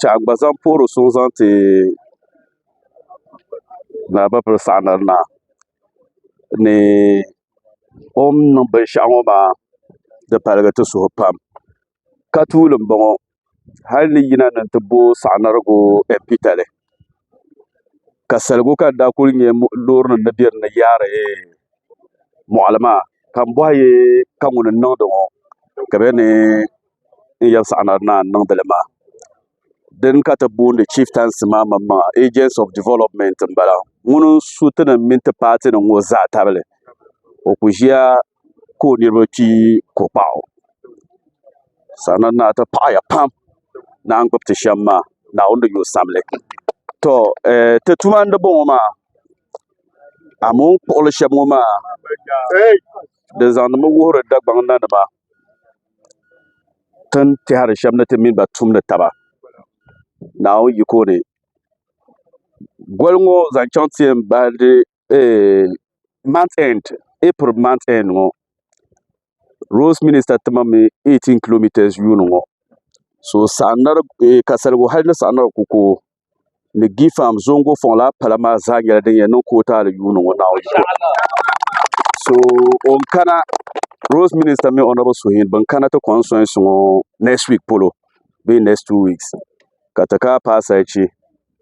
ka a gba zaŋ puhiri suŋ zaŋ ti Naawuni saɣandaɣa naa ni o ni niŋ binshaɣu ŋo maa di paligi ti suhu pam ka tuuli n boŋo hali ni yina ni n ti bo saɣanarigu ɛmpitali ka saligu ka n daa ku nyɛ loori nim ni bɛ dinni yaari moɣali maa ka n boɣa yɛ ka ŋuni n niŋdi ŋo ka bi yɛn ni n yɛn saɣana naa n niŋdili maa dini ka ti booni chieftaincy maa maŋ maŋa agents of development n bala ŋuni n su ti ni mini ti paati nim ŋɔ zaa tabili o ku ʒiya ka o niriba kpee ko kpaɣu saɣana naa ti paɣaya pam ni a ni gbubi ti shɛm maa naawuni ni yuui sabili to ti tuma n di bɔŋɔ maa amooi kpuɣili shɛba ŋɔ maa di zaŋdi mi wuhiri Dagbaŋ na nima. ti ni tɛhiri shɛba ni ti mini ba tumdi taba Naawuni yiko ni. Goli ŋɔ zaŋ chaŋ ti yɛn bahi di eeh month end April month end ŋɔ roads minister ti ma mi eighteen kilometres yuuni ŋɔ so saɣim na di eeh ka saligu hali ni saɣim na di ku ka o. ni Gfam Zongo Foŋla pala maa zaa nyɛla din yɛn niŋ kootaali yuuni ŋɔ Naawuni zuwa. So o ni kana Roads Minister mini Honourable Suhin bin kana ti constituency ŋɔ next week polo bee next two weeks ka ti ka paasarichi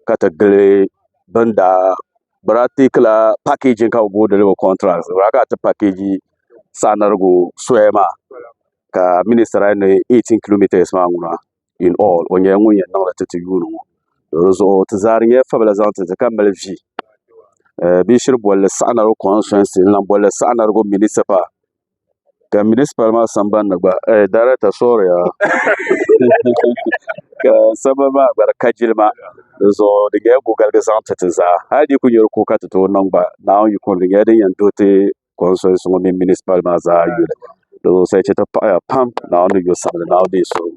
ka ti gili bin daa bi daa teekila packaging ka bi booi deliver contract bi daa kana ti package saanirigu soya maa ka minister daa yɛn ni 18 kilometres maa ŋuna. in all o nyɛla ŋun yɛn niŋli ti ti yuuni ŋɔ dizuɣu ti zaa di nyɛla fabila zaŋ titi ka mali vi bee shiri bolli saɣa na di konsitɛsi n lahi bolli saɣa na di ko minisipal ka minisipal maa sambanni gba daarɛta sori yaa ka sabbu maa gba di ka jilima dizuɣu di nyɛla gugaligi zaŋ ti ti zaa hali di yi kuli nyɛ di kuui ka ti tooi niŋ gba naawuni yiko ni di nyɛla din yɛn doogi ti konstitɛsi ŋɔ mini minisipal maa zaa yuli di zuɣusaa chɛti paɣiya pam naawuni ni yo sabili naawuni ni yi suhuri